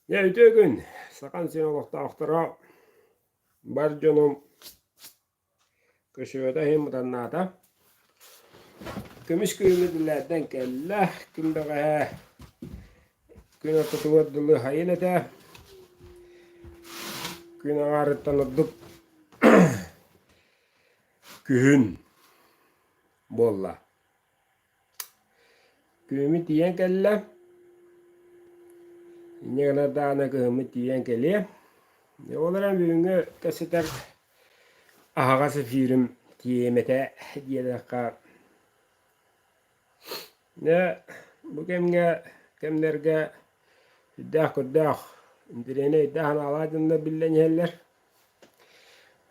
Дьэ, үтүө күн! Сахан син олохтоохторо бар дьонум көсүөтэ иһин мутаннаата. Көмүс күһүҥҥү диллээрдэн кэллэ. Ким бэҕэһээ күн ортотугар дылы хайын этэ. Күн аҥаарыттан ордук күһүн буолла. Кыымы тиийэн кэллэ. Инньэ гынар даҕаны кыымы тиийэн кэлиэ. Ол эрэн бүгүҥҥү кэпсэтэр аһаҕас эфирим тиийиэм этэ диэтэххэ дьэ бу кэмҥэ кэмнэргэ сүрдээх-курдаах интэриэһинэй өйдөөх-санаалаах дьоннор биллэн иһэллэр.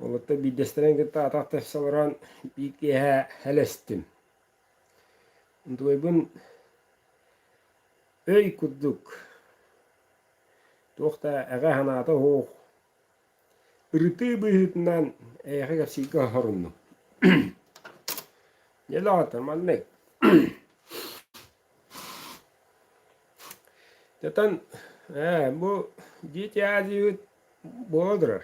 Олортон биирдэстэрин кытта атах тахса олорон биир киэһэ элэстим. Дуойбун өй курдук туох да эҕэ санаата суох ырытыы быһыытынан эйиэхэ кэпсииргэ соһоруннум. Дьэлоотор маннык. Дьатан ээ бу дитя диибит буола турар.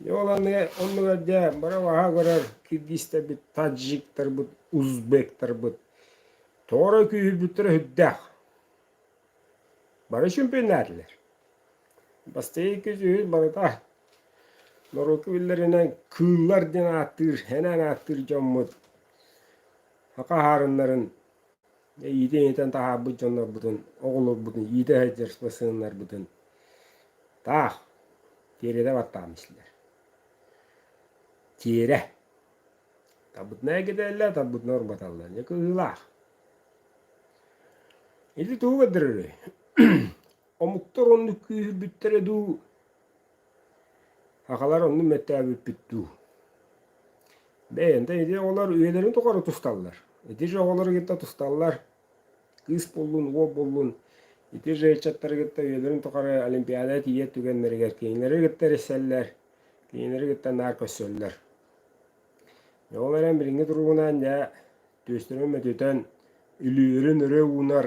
Дьэ ол аны оннугар дьэ бары баһа көрөр киргизтэрбит, таджиктарбыт, узбектарбыт тоҕо эрэ күүһүрбүттэрэ сүрдээх. Бары чөмпүйэннээтилэр. Бастакы иккис-үһүс барыта норуокка биллэринэн кыыллар диэн ааттыыр, сэнээн ааттыыр дьоммут хахаһаарыннарын иитин иитэн таһаарбыт дьоннорбутун, оҕолорбутун иитэ сылдьар сыаннарбытын таах тиэрэтэ баттааммыслар. Тиэрэ тарбытына эгитэллэр, тарбытына урбаталлар. Дьэ кыһыылаах. Ити тугу көрдөрөрүй? Омуктар оннук күүһүрбүттэрэ дуу, Аҕалар оннун мөттөөбүппүт дуу? Бэйэнтэн ити оҕолор үйэлэрин тухары тусталлар. Ити же оҕолору кытта тусталлар. Кыыс буллун, уол буллун. Ити же ыччаттары кытта үйэлэрин тухары олимпиада тиийэ түгэннэригэр кинилэри кытта эрисэллэр, кинилэри кытта наар көрсөллөр. Ол эрэн билиҥҥи туругунан дьэ түөстэрин мөтүтэн, үлүөрүн өрө уунар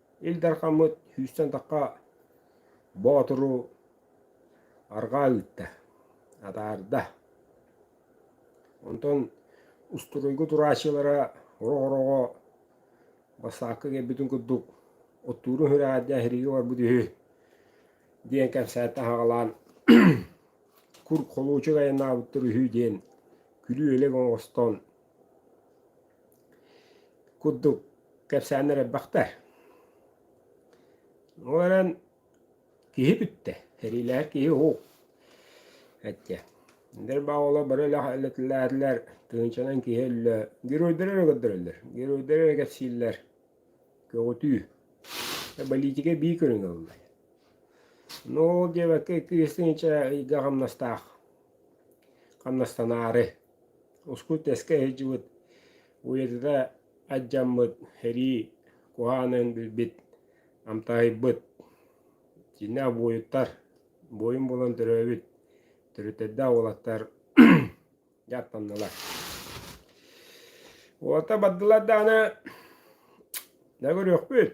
Ил Дархаммыт сүүстэн атахха Боотуру арҕаа ыытта, атаарда. Онтон устуруйга турааччылара орох-ороҕо бассаакка кэлбитин курдук оттуурун хүрэҕэрдэ эһириги барбыт үһү диэн кэпсээтэ аһаҕалаан кур холуучук айаннаабыттар үһү диэн күлүү-элэк оҥостон курдук кэпсээннэр элбэхтэ. Ол эрэн киһи бүттэ, сэриилэһэр киһи уу эттэ. Ндэр бааллар бары элэтилээтилэр, тыынчанан киһи өллө. Геройдары эрэ көрдөрөллөр, геройдары эрэ кэпсииллэр. Көҕүтүү. Политика бии көрүҥ ылла. Ну ол диэбэккэ икки-үс тыһыынча ыйга хамнастаах, хамнастанаары. Ускут тэскэ иһдьибит, уйатыта адьдьаммыт, сэрии куһаанын билбит, амтаһыйбыт, итиннэ обуойуттар, буойун буолан төрөөбүт төрүттэрдээх уолаттар дьааттаннылар. Уолаттар бардылар даҕаны да көрүөхпүт,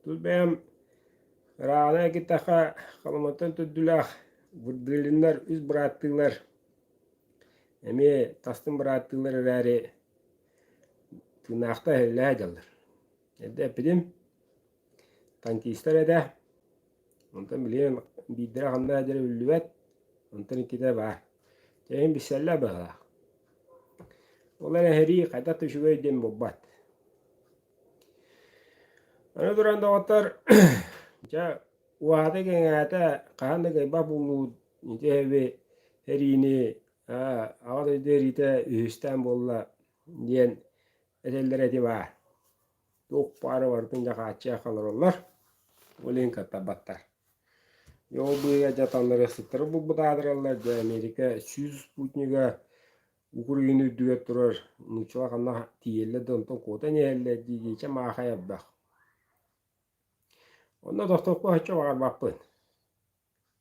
тус бэйэм ырааҕынан этиэххэ, Халыматтан төрдүлээх Вырдылиннар үс бырааттыылар Эмиэ тастын бырааттыылар эрээри тыынаахта эһэллээх дьаллар. Эрдэ эппитим, тантистар этэ, онтон билигин биирдэрэ ханна эрэ биллибэт, онтон иккитэ баар. Эйигин билсэллэр быһалаах. Ол эрэн эһэрии хайдах да үчүгэй диэн булбат. Аны туран доҕоттор, дьэ, уоһата-кэҥээтэ хаһан да кыайбат буолуу Ити эби эриини Аҕа дойду эриитэ үһүстээн буолла диэн этэллэр эти баар. Туох баары барытын дьакааччы холороллор, олин каттарбаттар. Ол быыга дьаталлары сыттары булбутаадыраллар, дьэ Америка сүүс спутнига Украина үрдүгэр турар нучула ханна тиийэллэр да онтон куотан иһэллэр диигичэ маахай ардах. Онно тохтоппо оччо баҕарбаппын.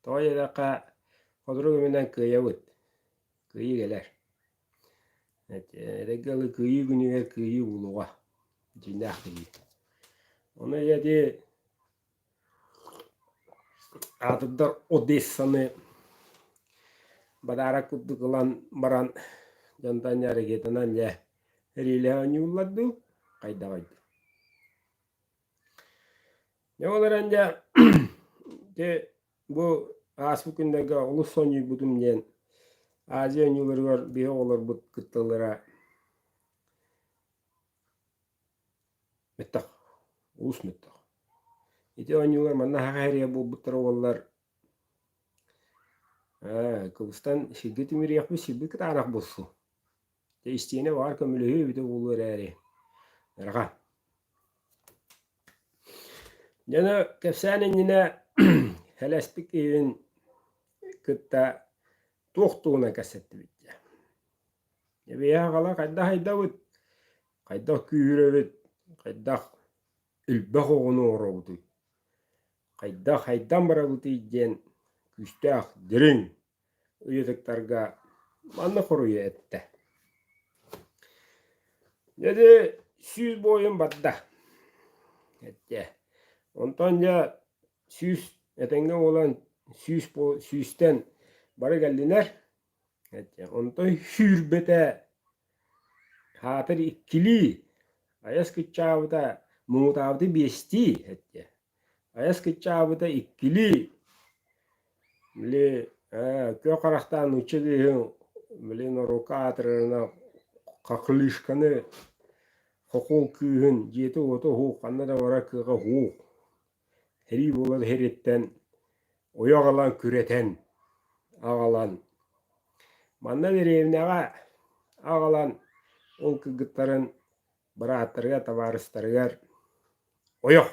Тоҕо диэтэххэ, хотурук үбүнэн кыайабыт. Кыайыы кэлэр. Эдэрги ыалы кыайыы күнүгэр кыайыы булуга дьиҥнээх кыайыы. Ону ийэтии аатырдар Одессаны бадаарак курдук ылан баран дьонтон эргитинэн дьэ эриилэһэ оонньууллар дуу, хайдаҕый дуу? Дьэ ол эрэн дьэ дьэ бу ааспыт күннэргэ олус сонньуйбутум диэн Азия ойууларыгар биһи оҕолорбут кытталлара мөттөх улус мөттөх. Ити оонньуулар манна хаһыһарыйа буолбуттара уоллар ээ кылыстан сиргэ тимириэхпит сирбит кытаанах булсу Тэйистиэнэ баҕар көмөлөһүө эбитэ буолуо эрээри, арҕаа. Дьэно кэпсээн иннинэ Хэлэспик киһин кытта туох тугунан кэпсэттибит дьэ. Эбиэһэ аҕала хайдах айдабыт, хайдах күүһүрэбит, хайдах элбэх оҕону оҥоробутуй, хайдах хайдан барабытый диэн күүстээх дириҥ ыйытыктарга манна хоруйа эттэ Дьэдэ сүүс буойун барда эттэ онтон дьэ сүүс этэҥҥэ буолан сүүс сүүстэн бары кэллилэр эттэ онтой сүүрбэтэ хаатыр иккилии айас кыччаабыта муҥутаабыты биэстии эттэ Айас кыччаабыта иккилии. Били күө харахтаан нуучча тыаһын били норуокка аатырарына хахлышканы хохуол кыыһын дьиэтэ-уота уһуух ханна да барар кыаҕа уһуух тирии буолар иһириттэн уйа аҕалан күрэтэн аҕалан манна дэриэбинэҕэ аҕалан ол кыргыттарын Бырааттарыгар, табаарыстарыгар ойох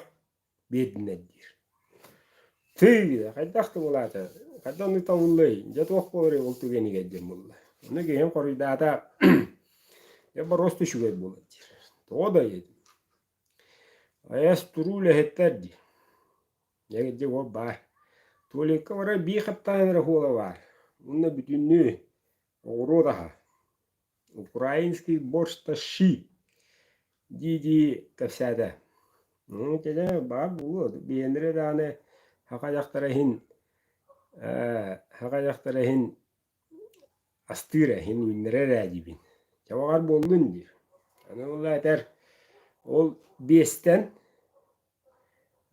биэрдиннэр диир. Тыы, хайдах да булаата, хайдах аны тоҥуллай, дьэ туох буоларый ол түгэнигэр диэн булла. Ону киһин хоруйдаата, дьэ боруоста үчүгэй буолар диир. Тоҕо да эйэ Айас туруу үлэһиттэр дии. Дьэ ол баар. Туолекка бара биир хаттаан эрэ хуола баар. Уонна бүтүннүү оҕуруот аһа. Украинский борщ тащи дии-дии кэпсээтэ. Итини баар буолуо. Биэнэри даҕаны хахадьахтара иһин ээ хахадьахтара иһин астыыр ээ иһин үүннэрэр ээ диибин. Чабаҕар буоллун диир. Аны ол этэр ол биэстэн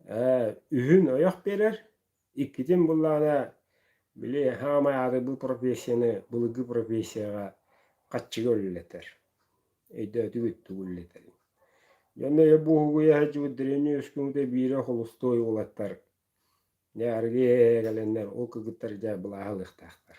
ээ үһүн ойох биэрэр, Иккитин буллаҕына, били саамай аатырбыт профессияны былыргы профессияҕа хаччыга үлэлэтэр. Өйдөөтүгүт тугу үлэлэтэрин. Дьонно өйө буоһугуйа сылдьыбыт древней өскөҥүтэ биири холустуой уолаттар, дьэ арыгы кэлэннэр ол кыргыттар дьэ былааһалыахтаахтар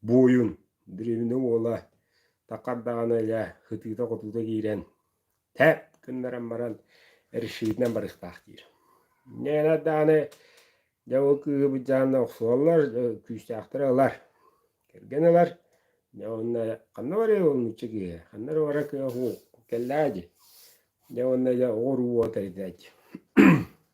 буойун, древнэ уола, такар даҕаны элэ ытыыта-хотуута киирэн, тэп гыннаран баран, решетинэн барыахтаах диир. Нээнэ даҕаны дьэ ол кыыһы былдьаанна охсуоллар, күүстээхтэрэ ылар. Кэргэн ылар. Дьэ уонна ханна барыай ол нуучча киһи? Ханна эрэ барар кыах уу кэллээ дии. Дьэ уонна дьэ оҕо уруу уота ирдээт дии.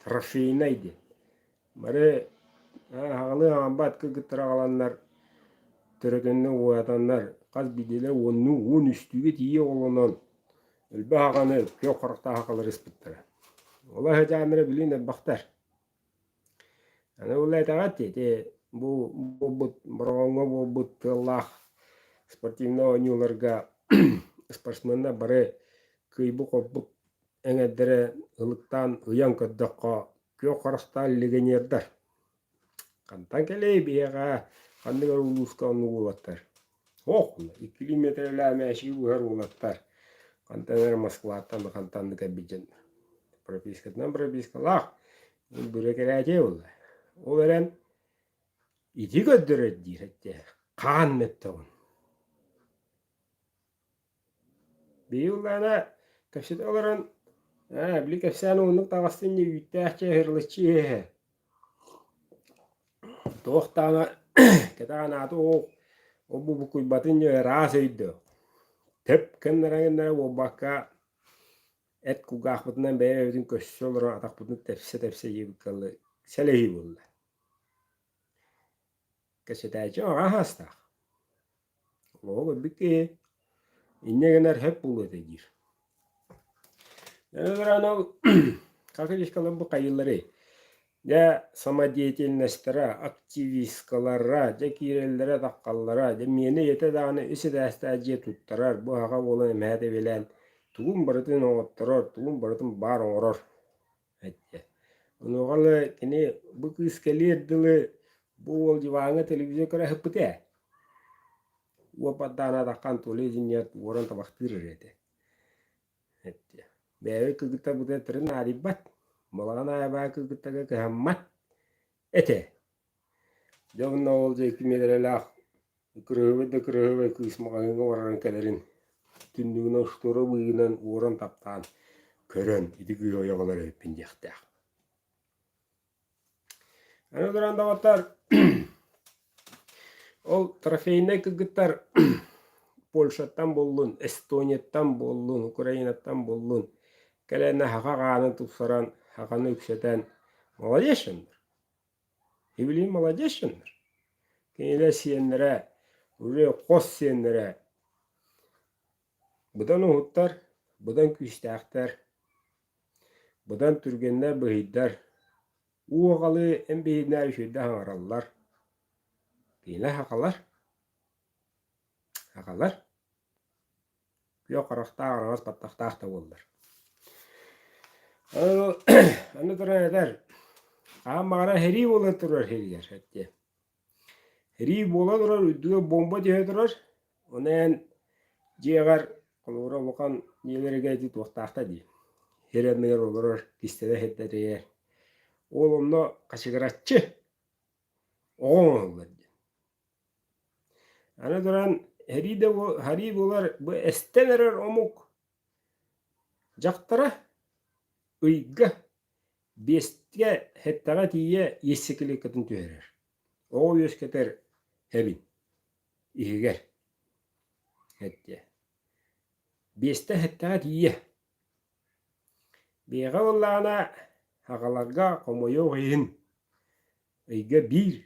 Трофейнай диэн. Бары аҕалыы аҕалбат кыргыттар аҕаланнар төрөтөннөр уоятаннар хас биирдиилэр уоннуу уон үстүүгэ тиийэ оҕолонон элбэх аҕаны күөх харахтаах аҕалар ыспыттара. Олох эдьааммара билигин элбэхтэр. Аны ол этэҕэт ити бу буолбут Бороҕоҥҥо буолбут тыаллаах спортивнай оонньууларга спортсменнар бары кыйбык-хорбук эҥэрдэрэ ылыктаан ыйан көрдөххө күөх харастаан легионердар хантан кэлиэй биһиэхэ ханнык эрэ улууска оннук уолаттар ох икки километрэлээх мээчиги быһар уолаттар хантан эрэ москваттан да хантан да кэлбит дьон пропискатынан пропискалаах бүрэ кэлээчэй буолла ол эрэн ити көрдөрөр диир этэ хаан мөттөҕүн Биһиги ыллаана кэпсэтэ олорон ээ били кэпсээн ууннук таҕыста инньэ үүттээх чэ ыһырлыччы иһэ туох даҕаны кэтэҕин аата ол ол бубукуйбатын дьэ ыраас өйдөө тэп гыннара гыннара буолбакка эт кулгаахпытынан бэйэ бэйэбитин көрсө олорон атахпытын тэпсэ тэпсэ иһиэбит кэллэ сэлэһии буолла Кэсэтээччи аҕа саастаах. Оҕо көрбүт киһи инньэ гынар сөп буолуо этэ диир. Эн ырааныгы как речкалар бу хайыллары? Дьэ самодеятельностьтара, активисткалара, дьэ киирэллэрэ-таххаллара, дьэ миэнэ ийэтэ даҕаны үс этээстээх дьиэ туттарар, бу аҕаҕа буолан эмэһэ тэбилээн тугун барытын оҥотторор, тугун барытын баар оҥорор. Этэ. Онуоха эле кини бу кыыс кэлиэр дылы бу уол диваҥҥа телевизор көрө ээ. Уоппардаан атаххан тула изинният уоран табахтыыр эрэ этэ. Эттэ. Бэйэбит кыргыттар бу тыры наадыйбат. Балаҕан аайы баар кыргыттарга кыһаммат этэ. Дьэ онно ол диэки миэрэлээх ыкырыһыбай да ыкырыһыбай кыыс маҕаһыыҥҥа баран кэлэрин түннүгүнэн остуорура быыһынан уоран таптаан көрөн ити кыыһы ойоҕолор эбиппин диэхтээх аны олорон доҕоттор ол трофейнай кыргыттар Польшаттан буоллун Эстонияттан буоллун Украинаттан буоллун кэлэнэ хаҕа хааны тупсаран хаханы үксэтэн молодец Киһилии молодец дьоннор. Кинилэр сиэннэрэ, үрүө хос сиэннэрэ быдан уһуттар, быдан күүстээхтэр, быдан түргэннэр, быһыйдар. уу аҕалы эн биһигинээр үчүгэйдик аҥараллар. Кинилэр хахалар. Хахалар. күөх харахтаах араҕас баттахтаах да буоллар аны туран этэр хаһан баҕара сэрии буолан турар сиригэр эттиэ сэрии буола турар үрдүгэр бомба түһэ турар ону эн дьиэҕэр холобура улахан ийэлэргэ ити туохтаахта дии сир анныгар олорор кистэлэ сирдэтийэр ол онно хачыгыраччы оҕо оҥоһуллар диэн Аны туран, һэрии да һарыы буолар бу эстэн эрэр омук дьахтара ыйга биэстгэ һэттэҕэ тиийэ иэссикилиэккэтин түһэрэр. Оҕо үөскэтэр эбин иһигэр эттиэ. Биэстэ һэттэҕэ тиийэ. Биэҕэ ыллаҕына аҕаларга хомойуох иһин ыйга биир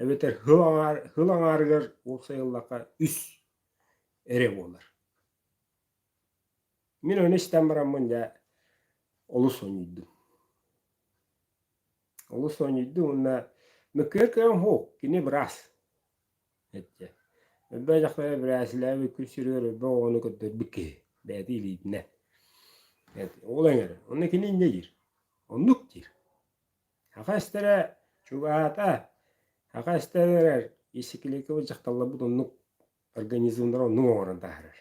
эбэтэр һыл аҥаар һыл аҥаарыгар ол сайыллахха үс эрэ буолар мин ону истэн бараммын дьэ олус сонньуйдум олус сонньуйдум уонна мөккүөр көрөн һу кини быраас эттэ өрбө дьахтары бирээсилээбит күн сиригэр өрбө оҕону көрдөрбүт киһи бэйэтэ илиитинэ ол эҥэр онно кини инньэ диир оннук диир Аха эстэрэ чугаһаата. Аха эстэр эрэр исикликабыт дьахталларбыт оннук организмнара оннук оҥорон таһаарар.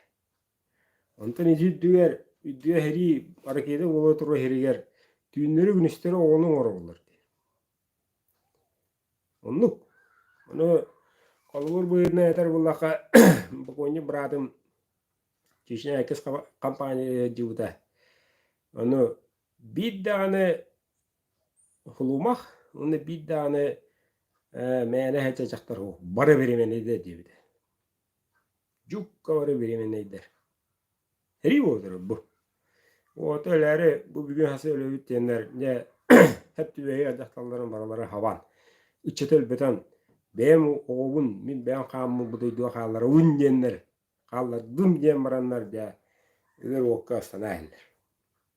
Онтон ити үрдүгэр үрдүгэ иһэрии ракета буола турар иһэригэр түүннэри-күнүстэри оҕону оҥороллор диэн. Оннук. Ону холобур быһыытынан этэр буоллахха бокуонньук быраатым Чечня иккис компания дьыыбыта. Ону биир даҕаны Хлумах уонна биир даҕаны э, мээнэ эһэ дьахтар уһу, бары беременныйда диэбитэ. Жукка бары беременныйдар. Сэрии буолутар бу. Вот өлөөрү бу бүгүн хасы өлөбүт диэннэр дьэ хэптүбэйи дьахталларын барылары хабан, ыччаты өлбөтөн, бэйэм оҕобун мин бэйэм хааммыт бу дойдуга хаалларабын диэннэр, хааллардым диэн бараннар дьэ өлөр уокка астана иһэллэр.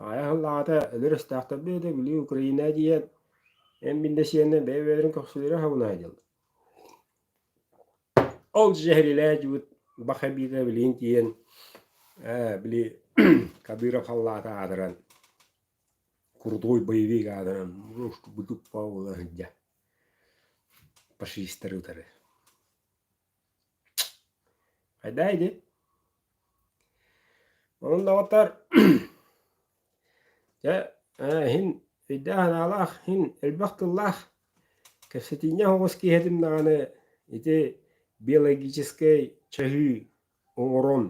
Аҕай аһыл аҕата өлөр өстөөхтөрдө да били Украина диэн эн биндэсиэннэ бэйэ-бэйэлэрин көхсүлэрэ хабылаһа дьыл Ол дьэһэрилээдьибит баха биитэ билигин тиийэн ээ били Кадыров халлаата аатыран крутой боевик аатыран быдыппа була сылдьа фашистары утары Хайдаа ити? Онон доҕоттор дьэ иһин өйдөөх-санаалаах, иһин элбэх тыллаах кэпсэтииннээх оҕус киэһэтим даҕаны ити биологическай чаһыы оҥорон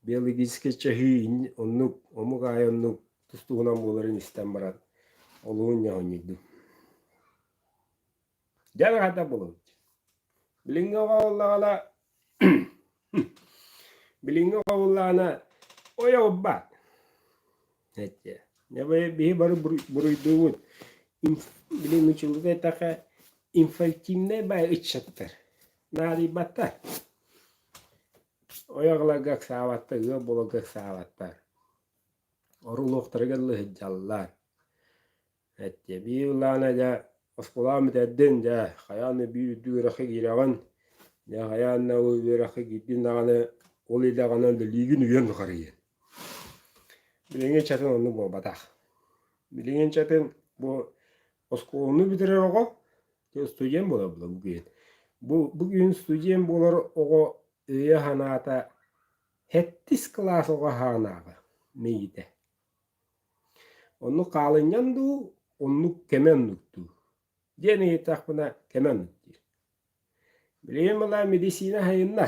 биологическай чаһыы оннук омук аайы оннук тус туһунан буоларын истэн баран олуун ньоһунньуйдум. Дьэн хата булун. Билиҥҥи оҕоллаҕына билиҥҥи оҕоллаҕына ойоҕурбат. Эчи, биһи бары буруйдуубут. Билиҥҥи чулуга этахха инфантильнай бай ыччаттар. Наадыйбаттар. Ойоҕлорго ыксаабаттар, ыал буоларга ыксаабаттар. Орулуохтарыгар лыһыддьаллар. Эттэ, биир ылаана дьэ, оскуолаҕын бүтэрдин, дьэ, хайаан да биир үрдүк үөрэххэ киирэҕин, дьэ, хайаан да ол үөрэххэ киирдин даҕаны, ол идэҕинэн үлэлиигин үйэҥ ухарыйыан. Билиҥҥи чатын оннук буолбатах. Билиҥҥи чатын бу оскуоланы бүтэрэр оҕо студент буолар буолар бу күн. Бу, бу күн студент буолар оҕо өйө-санаата сэттис кылаас оҕо саҕанааҕы мэйиитэ. Онну хаалынньан дуу, оннук кэми оннук дуу? диэн ыйытахпына кэми оннук диир. Билигин мала медицина сайынна.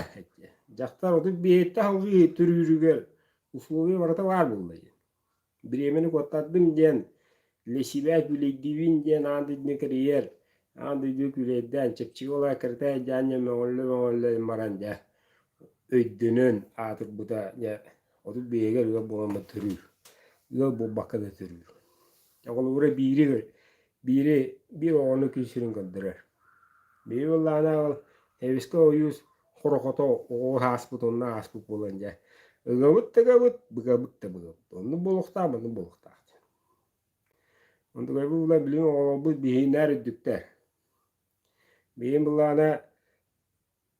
Дьахтар отут биэһитте салгыы төрүүрүгэр условия барыта баар буолла диэн. Бириэмэни куоттардым диэн Для себя күлэйдибин диэн аан дойдуну кэрийэр, аан дойду күлэйдээн, чэпчэки буола кыртай дьаанньа мөҥөллө-мөҥөллө баран дьэ өйдөнөн аатырбыта дьэ отут биһиги ыал буоламмыт төрүүр. Ыал буолбакка да төрүүр. Оҕолура биири биири биир оҕону күн сирин көрдөрөр. Биир былаана ол эбискэ ойуус хорохото оҕо ааспыт онно ааспыт буолан дьэ ылабыт тагабыт быгабыт да быгабыт онну болуктаах манны болуктаах Онтукайбыт булан билигин оҕолорбут биһииннээр үрдүктэр. Бэйэм былаана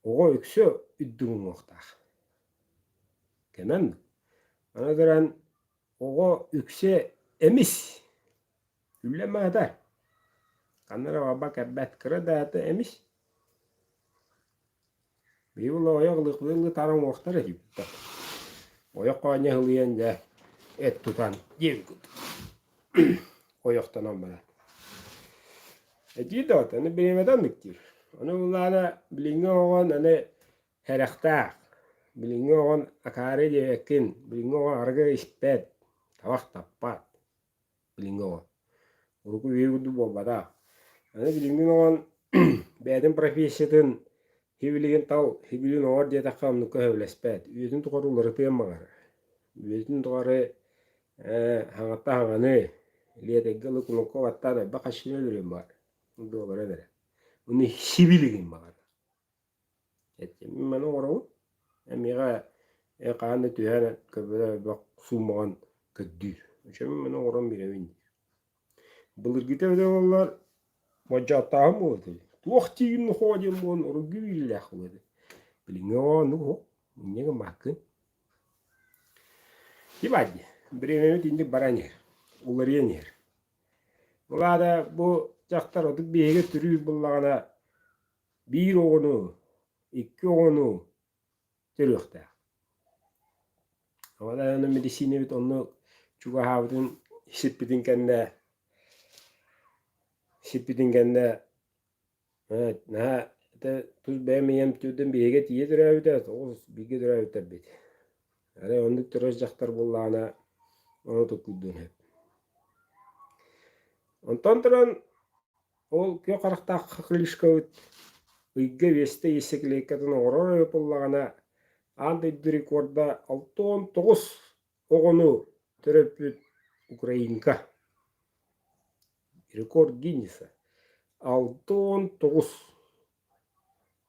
оҕо үксэ үрдүк уҥуохтаах. Кэмэм. Аны туран оҕо үксэ эмис. Үллэн маһытар. Ханна эрэ барбат кэлбэт кыра да аата эмис. Биһиги ойох ылытар оҥуохтар этибиттэр. Ойох хоонньо ылыйан дьэ эт тутан диэбиккит. Ойохтонон баран. Этии доҕот, аны бириэмэтэ оннук диир. Ону ыллаана билиҥҥи оҕон аны сэрэхтээх. Билиҥҥи оҕон акаарый диэбэккин, билиҥҥи оҕон арыгы испэт, табах таппат. билиҥҥи оҕо. Урукку үйэ курдук буолбатах. Аны билиҥҥи оҕон бэйэтин профессиятын, һибилигин тал һибилигин оҥор диэтэххэ оннукка сөбүлэспэт. Үйэтин тухары уларытыан баҕар. Үйэтин тухары ээ хаҥатта хаҥаны, лиэтэргэ ылы кулуупка баттаан элбэх аччыгын өлөрүөн баҕар. Дуобаран эрэ. Аны сибилигин баҕар. Этим маны оҥоробут. Эмиэхэ хаһан да түһэн көбө бөх суумаҕын көрдүүр. Өчөмүн маны оҥорон биэрэбин диир. Былыргыта эбитэ буоллар модьааттааһын буолбут эбит. Туох тиийин нохоо диэн буолан оргу биирилээх буолбут эбит. Билиҥҥи оҕону оһо, инньэ гыммаккын. Ебать диэ, бремябыт инник баран иһэр, уларыйан иһэр. Былаата бу дьахтар отут биэһигэ түрүүр буллаҕына биир оҕону, икки оҕону төрүөхтээх. Аны мэдиссиинэбит онно чугаһаабытын сиппитин кэннэ сиппитин кэннэ наһаа это тус бэйэм ийэм түрдэн биһиги тиийэ төрөөбүтэ тоҕус бииргэ төрөөбүттэрбит арай оннук төрөөс дьахтар буоллаҕына ону туткуйдун сөп онтон туран Ол күөх харахтаах крыльшковыт ыйга биэстэ иэсэкилиэккэтин оҥорор ыйытыллаҕына, аан дойду рекорда алта уон тоҕус оҕону төрөппүт украинка рекорд Гиннесса алта уон тоҕус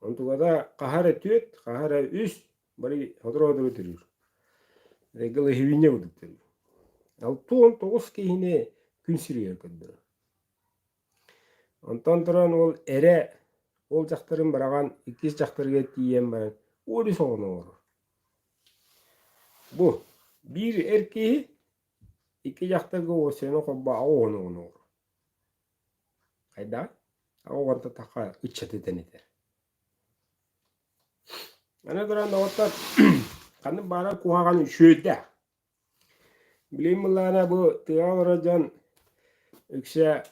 онтуката хаһа эрэ түөрт хаһа эрэ үс бары сотору дылы төрүүр головиня курдук төрүүр алта уон тоҕус киһини күн сиригэр көрдөрөр Онтон туран ол эрэ ол дьахтарын быраҕан иккис дьахтарга тиийэн баран «Оо бис оҕону оҥорор». Бу биир эр киһи икки дьахтарга уоссайынан холбоон аҕа оҕону оҥорор. Хайдах? Аҕа оҕонто таха ыччат этэн этэр. Аны туран доҕоттор ханнык баара куһаҕан үчүөйдээх. Билим былаана бу тыаҕа олорор дьон үксэ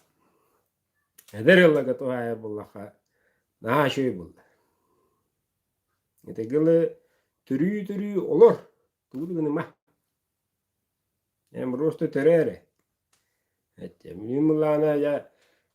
эдэр ылларга туһаайар буоллахха наһаа үчүгэй буолла. Итиги лы төрүү-төрүү олор тугу да гыныма. Эмроста төрөө эрэ. Билим былаана дьэ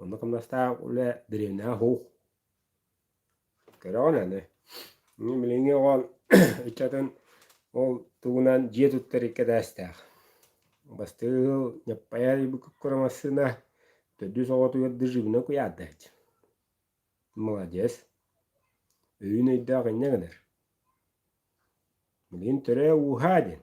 Онно кымнастаах улэ дэриэнээх уһуух. Кэрэҕин аны. Мин билиҥҥи оҕон ыччатын ол тугунан дьиэ туттар икки этээстээх. Бастыыл Ньаппайа Ибыккуккура массыына төрдүс оҕотугар да живунан куйаардаһыт. Маладьыас. Өйүн өйдөөх инньэ гынар. Билигин төрөө ууһаа диэн.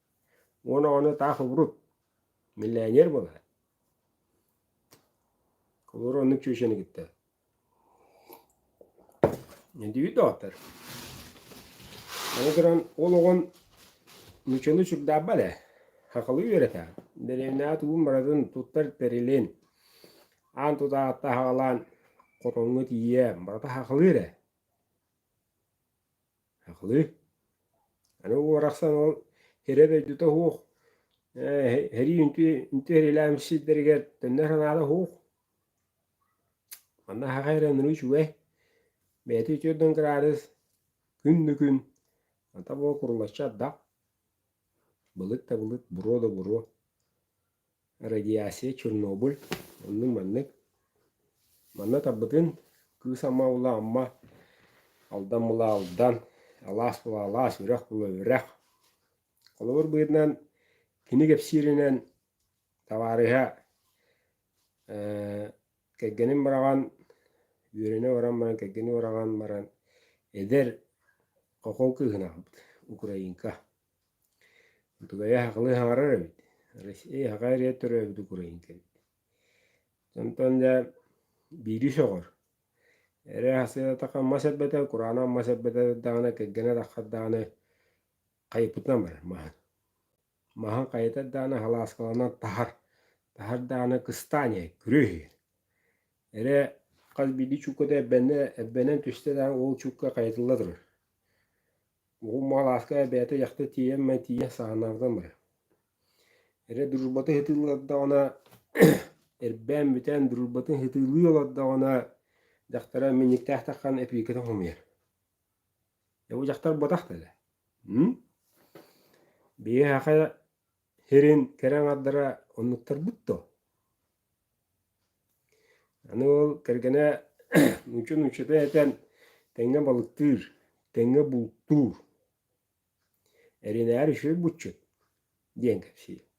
Уон оҕону таах убурут, миллионер буолар. Олор оннук чүөчэни кытта. Эдиби доктор. Аны туран ол оҕон нучаны сүрдаабал ээ. Хакалы үөрэтэ. Деревняа тугун баратын туттар тэрилин. Аан тутаатта хагалаан хотоҥҥо тиийэ барата хакалы эрэ. Һахлыы, аны уорахсан ол эрэ-дойдута уһуох, ээ һэрии үнтү үнтү эриэлээн сирдэригэр төннөр санаата уһуух. Манна һахай эрэ ынырыы үчүгэй, бэйэтэ үтүөрдүн кыраадыс күн да күн, хата бу курулаччы ардах. Былыт-табылыт, буруо да буруо, радиация Чернобыль оннук-маннык. Манна тарбытын кыыс ама улаамма, алдан мыла алдан, алаас мыла алаас, үрэх мыла үрэх. Холобур быһыытынан кини кэпсииринэн табаарыһа Кэргэним быраҕан, үөрэнэ баран баран, кэргэним быраҕан баран, эдэр хохол кыыһын аҕабыт, Украинка. Утугайа хахылы хаҥарар эбит. Россия хаха эрийэ төрөөбүт Украинка эбит. Онтон дэ биири сөҕөр. Эрэ хасыата мас эрбэтэ, кураана мас эрбэтэ даҕаны, кэргэнэ таххардаҕаны хайыппытынан барар маһын. Маһын хайытар даҕаны халааскаланан таһар, таһар даҕаны кыстаан иһэр, күрүө иһэр. Эрэ хас биирдии чуукката эрбэннэ, эрбэнэн түстэ даҕаны ол чуукка хайытылла турар. Уһун халааска бэйэтэ дьахтар тиийэн май тиийэ саҕанааҕыттан барар. Эрэ дружбатын ыһытыылыы олордоҕуна эрбээн бүтэн дружбатын ыһытыылыы олордоҕуна дьахтара минньиктээхтик хаалан эпииркэтин хомуйар. Эбу дьахтар ботах деле. Биһиэхэ хирин кэрэ аңардара оннуктарбыт то. Аны ол кэргэнэ мүчү мүчүтэ этэн тэҥҥэ балыктыыр, тэҥҥэ бултуур. Эринээри үчүгэй булчут диэн кэпсиир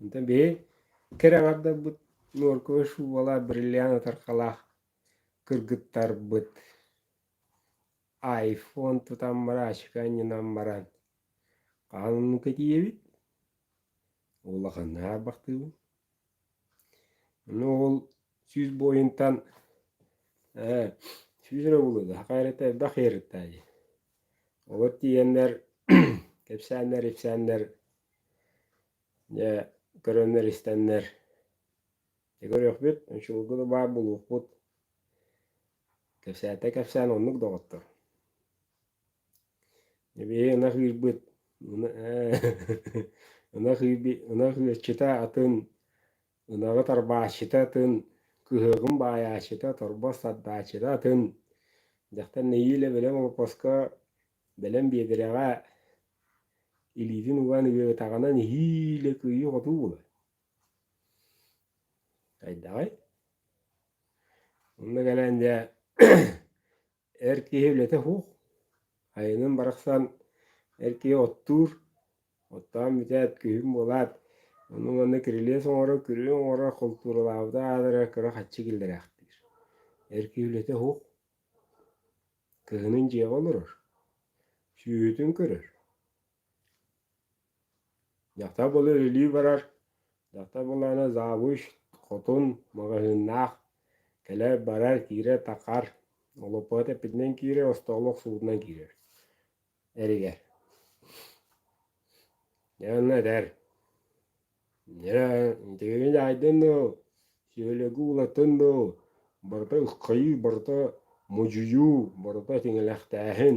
Онтон биһи кэрэ аҥардарбыт нуорковой шубалаах, бриллиант ытархалаах кыргыттарбыт айфон тутан баран, ачка анньынан баран хаһан оннука тиийэбит? Улаханныы аһарбахтыыбын Ну ол сүүс буойунтан ээ сүүс эрэ булуода хахай эрэ элбэх иэрыттаайы вот тиийэннэр кэпсээннэр ипсээннэр дьэ көрөннөр истэннэр дьэ көрүөхпүт очулга да баар булуохпут кэпсээтэ кэпсээн оннук доҕоттор Эбээ ынах ыырбыт, ынах ыаччыта атын, ынаҕы тарбааччыта атын, кыһыаҕын баайааччыта, торбос тардааччыта атын. Дьахтар нэһиилэ бэлэм олоппоско, бэлэм биэдэрэҕэ илиитин уган ыарытаҕына нэһиилэ кыайыы-хотуу булар. Хайдаҕый? Онно кэлэн дьэ Эр киһи үлэтэ суох. Айанын барахсан эр киһи оттуур, оттоон бүтээт, күһүн буолаат, ону-манна кирилиэс оҥорор, күрүө оҥорор, хултууралаабыта аадара кыра хаччы киллэрээхтиир. Эр киһи үлэтэ суох. Кыһынын дьиэҕэ олорор, сүүһүтүн көрөр. Дьахтар былыр илии барар, дьахтар буолаары завуч, хотун, маҕаһыыннаах, кэлэр-барар, киирэр-такар, олоппото тэппитинэн киирэр, остооло охсубутунан киирэр, эригэр. Дьэ онно этэр, тигиҥи дьаайдын дуу, сүһүлүгү уулаттын дуу, барыта ыххайыы, барыта модьуйуу, барыта тиҥилэхтээһин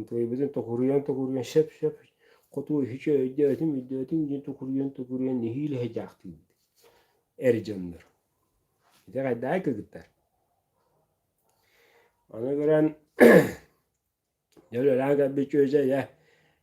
Ытыйбытын токуруйан-токуруйан сөп-сөп хоту үһүчү өйдөөтүм, өйдөөтүм диэн тукуруйан-тукуруйан нэһиилэ дьаахтыыбыт эр дьоннор. Ити хайдаа кыгыттар? Аны көрөн дьэ үлэлээн кэлбит чүөчэ дьэ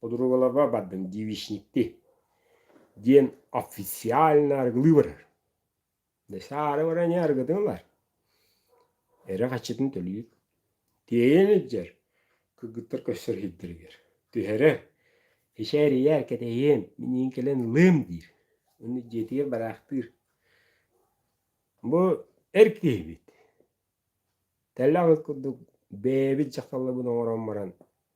Подругаларга бардым девичникти диэн официально арыгылыы барар. Десе аары баран арыгытын ылар. Эрэ хаччытын төлүүр. Тиэйэн илдьэр. Кыргыттар көстөр иһиттэригэр. Түһэрэ, «Кичээрийэ, кэтэйиэм, миниин кэлэн ылыам» диир. Аны дьиэтигэр бараахтыыр. Бу эр киһибит. Тэллэх курдук бэйэбит дьахталларбын оҥорон баран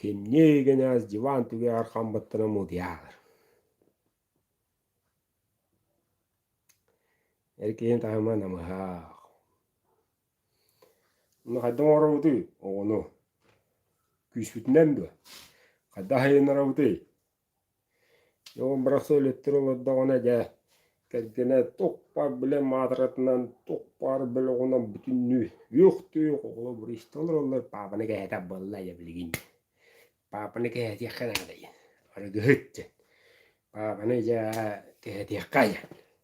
Кимнии гынаас дьулаан түгэҕэр хам быттына муудьаалар Эр киһи таһыма намыһах. Ну хайдах оҥоробутуй оҕону? Күүспүтүнэн дуо? Хайдах айаннарабытый? Ол барахсан үлэттэр олордоҕуна дьэ кэргэнэ тук-пар били маатыратынан тук-пар бөлөҕүнэн бүтүннүү үөх-түөх оҕолор буриста олороллор паапаны кэһэтэр буолла дьэ билигин диэн. Паапаны кэһэтиэххэ наада диэн арыгыһыт диэн. Паапаны дьэ кэһэтиэххэ диэн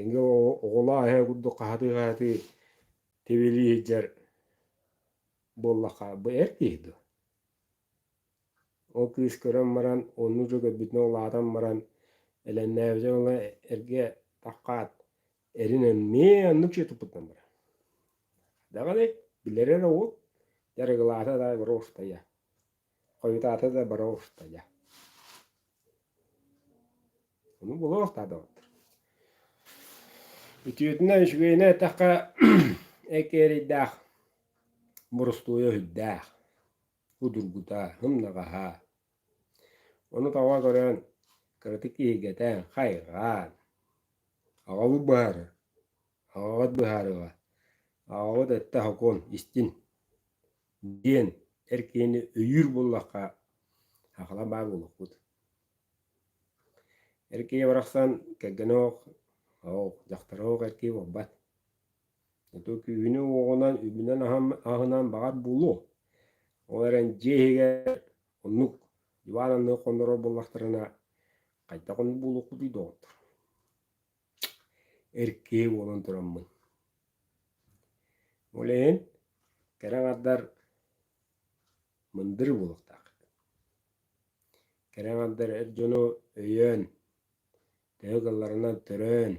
Эҥэ оҕолоо эһэ курдук хаһатыы-хаһатыы тибилии сылдьар буоллахха бу эр киһи дуо? Ол кыыс көрөн баран оннук дьыл көрбүтүнэн улаатан баран элэҥнээбитэ ыла эргэ таххаат эрин эмиэ оннук дьиэ туппутунан барар. Даҕаны билэр эрэ уол дьарыгылаата да брошкая Хойутаата да бара устайа. Ону булуохтаа доҕоттор. Үтүөтүнэн үчүгэйинэ эттэххэ экээрийдээх борустуойа үһүрдээх удургута, һымнаҕаһа. Ону таба көрөн кыратык иһигэтэн, хайҕаан, аҕабыт быһаарар, аҕаҕыт быһаарыаҕа, аҕаҕыт өттө сокуон, истин. диэн эр киһини өйүүр буоллахха хахала баар буолуохпут эр киһи барахсан кэргэнэ оох дьахтара оох эр киһи буолбат ото күүһүнү уоҕунан үбүнэн аһынан баҕар булуо ол эрэн дьиэ иһигэр оннук диван анныгы хоннорор буоллахтарына хайдах ону булуохпутуй доҕоттор эр киһи буолан тураммын. Ол иһин кэрэ аҥардар мындыр буолуохтаах. Кэрэ аҥардар эр дьону өйөөн, төһө кылларынан төрөөн,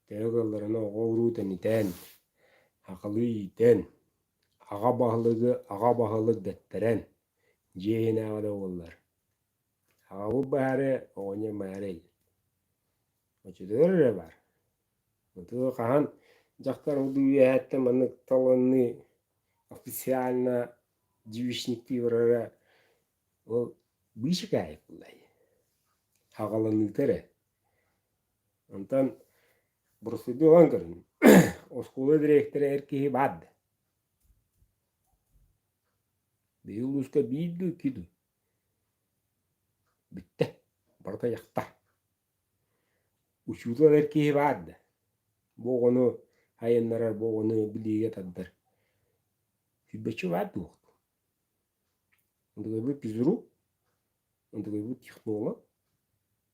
төһө кылларынан оҕо-уруу тэнитэн, акылы иитэн, аҕа баһылыгы аҕа баһылык дэттэрэн, дьиэ иһинээҕи да буоллар Аҕабыт баһары оҕонньор маарай очутугар эрэ баар. Ытыы хаһан дьахтар утуйуу үөһэттэн маннык талынныы официально девичниктии барара ол быычык аайы буолай хаҕаланыыта эрэ. Онтон боростуйдуу ылан көрүн оскуола дириэктэрэ эр киһи баар да биһиги улууска биир дуу, икки дуу Бүттэ, барыта дьахтар. Учуутал эр киһи баар да, бу оҕону айаннарар, бу оҕону билиигэ тардар сүүрбэччэ баар дуо? Ондугайбыт физрук, ондугайбыт технолог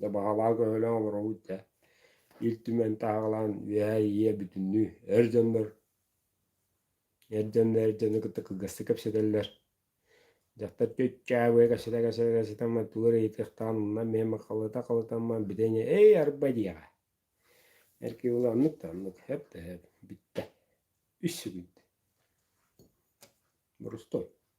Да баҕалаах өһөлөөх олоробут да Ил Түмэн таһаҕалаан үөһээ ийэ бүтүннүү эр дьоннор эр дьонно эр дьону кытта кылгастык кэпсэтэллэр дьахтар чүччээбыа кэпсэтэ кэпсэтэ кэпсэтэммин тугу эрэ ыйытыахтаан уннан миэм халыта халытаммын бүтэйҥэ эй арба диэҕэ эр киһи була оннук да оннук эп да эп бүттэ үс секунд борустуой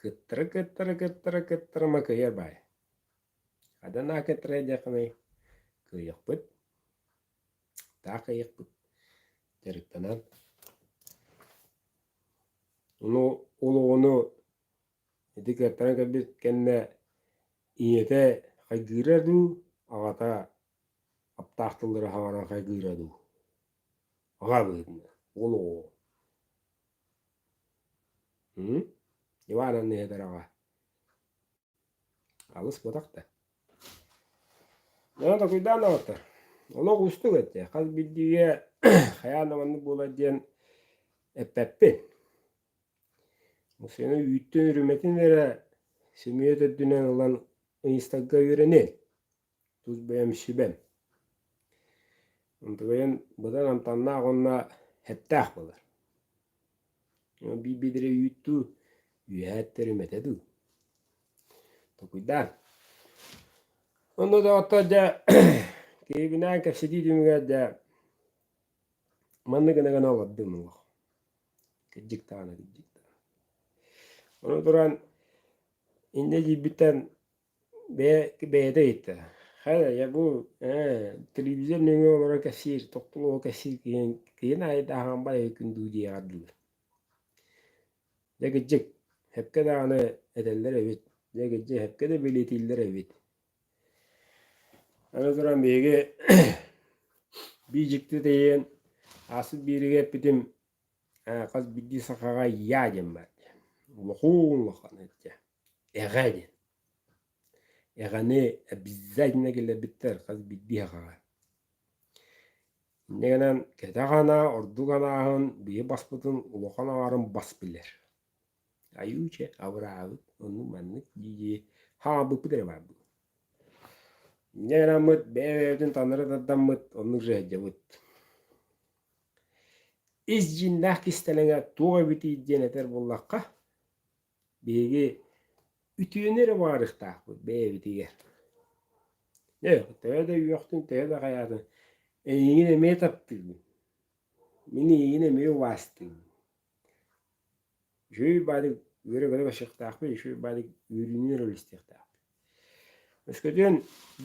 Кыттары кыттары кыттары кыттары макыйар баай. Адана кыттары диэххиний кыйыхпыт таах кыйыхпыт дьарыктанан ну олоҕуну ити кыаттаран көрбүт кэннэ ийэтэ хайгыыра дуу аҕата аптаах тыллары хабаран хайгыыра дуу аҕа быһыытынан олоҕу Ивановна Ядорова алыс буотах да Леонид Акуйдановтар олох уустук этэ хас биирдиигэ хайаан да маннык буолар диэн эппэппин Мусина үүттүн үрүмэтин эрэ сөмүйүөт үрдүнэн ылан ыйыстарга үөрэниэҥ тус бэйэм сүбэм. Ынтыгыйын быдан амтаннаах уонна эттээх буолар. Биир-биирдэрэ үүттүү, үөһэ эттэри мэтэ дуу. Токуйдаан. Онно доҕоттор дьэ киһибинаан кэпсэтии түмүгэр дьэ манны гына гына олордум олох. Кырдьык даҕаны кырдьык даҕаны. Ону туран инньэ дьиибиттэн Бэйэ, бэйэтэ ыйытта. Хата дьэ бу ээ телевизор нөҥүө олорон кэпсиир, тохтолуоҕу кэпсиир киһин киһин аайы да аһаан барыай күн дуу диэҕэр дылы. Дьэ кырдьык, сөпкө даҕаны этэллэр эбит. Дьэ кырдьык сөпкө да бэлиэтииллэр эбит. Аны туран биһиги бии дьикти тиийэн ааспыт биэриигэ эппитим ээ хас биирдии сахаҕа я диэн баар диэн. Улахан улахан ычча. Эҕэр эҕэни обязательно киллэрбиттэр хас биирдии аҕаҕа. Инньэ гынан кэтэх анаа ордук анааһын биһи баспытын улахан аҥарын бас билэр. Айуче абыраабыт ону маннык дии-дии хаалбыппыт эрэ баар буолуо. Инньэ гынаммыт бэйэ-бэйэбитин таннары тардаммыт оннук дьэ сылдьабыт. Ис дьиҥнээх кистэлэҥэ туох эбитий диэн этэр буоллахха Биһиги үтүөнү эрэ баарыктаахпыт бэйэбитигэр. Э, төһө да үөхтүн, төһө да хайаатын, эйиигин эмиэ таптыыбын. Мин эйиигин эмиэ убаастыыбын. Үчүгэй баадык үөрэ-көрө көрсүөхтаахпыт, үчүгэй баадык үөрүүнү ролистиэхтээхпит. Өскөтүн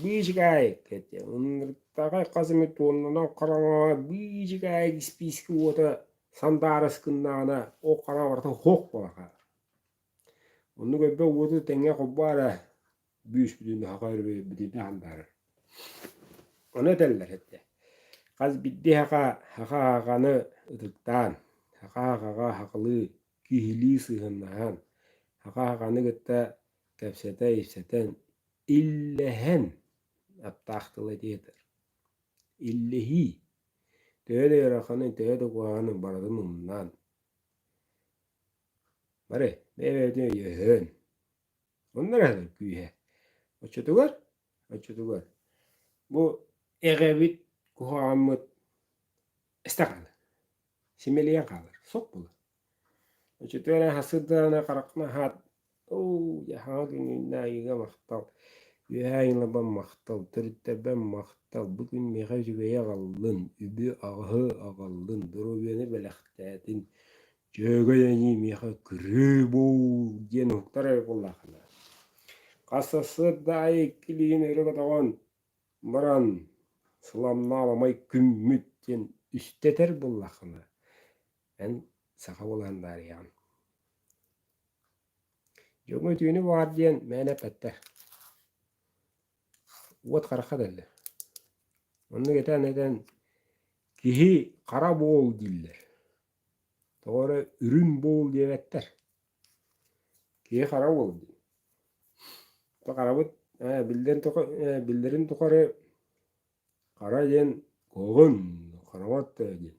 биижикай кэттэ. Ынырыктаҕа хас эмэ туоннанан хараҥаҕа биижикай испиискэ уота сандаарыс гыннаҕына ол хараа барыта һох буола хаалар. Оннук элбэх уоту тэҥҥэ холбоон бүүспүтүн саха өрөбүтүнэ хандаарар. Ону этэллэр этэ хас бирдэ саха саха аҕаны ытыктаан, саха аҕаҕа сахалыы киһилии сыһыаннаһан, саха аҕаны кытта кэпсэтэн-ипсэтэн, иллэһэн аптаах тылы этиэтэр. Иллэһии, төһө да ыараханы, төһө да куһаҕаны барытын умнаан, бары бэйэ-бэйэтин өйөһөн, муннар аһатар күүһэ. Оччотугар, оччотугар бу эҕэбит, куһаҕаммыт эстэ хаалар, симэлийэн хаалар, сок буолар. Өчүтүөрэ сырдааны харахнаһаат уу яхаҕа күнүүннэ айыыга махтал үөһээ айылабам махтал төрүттэрбэм махтал бу күн миэхэ үчүгэйи аҕаллын үбү аҕыһы аҕаллын доруобуйаны бэлэхтээтин дьүөгэй эйиим миэхэ күрүө буол диэн уһуктар эрэ буоллаххына хас сарсыардаайы иккилиин өрө көтөҕөн баран сыламнаабамай күммүт диэн үстэтэр буоллаххына Эн саха буолаан даарыйаҕын. Дьоҥҥо үтүөнү баҕар диэн мээнэ эппэттэр. Уот харахха дэллэ. Оннук этэн-этэн киһи хара буол дииллэр. Тоҕо эрэ үрүн буол диэбэттэр. Киһи хара буол дии. Харабыт ээ биллэрин тухары биллэрин тухары Хара диэн кулгун, хараҥат э диэн.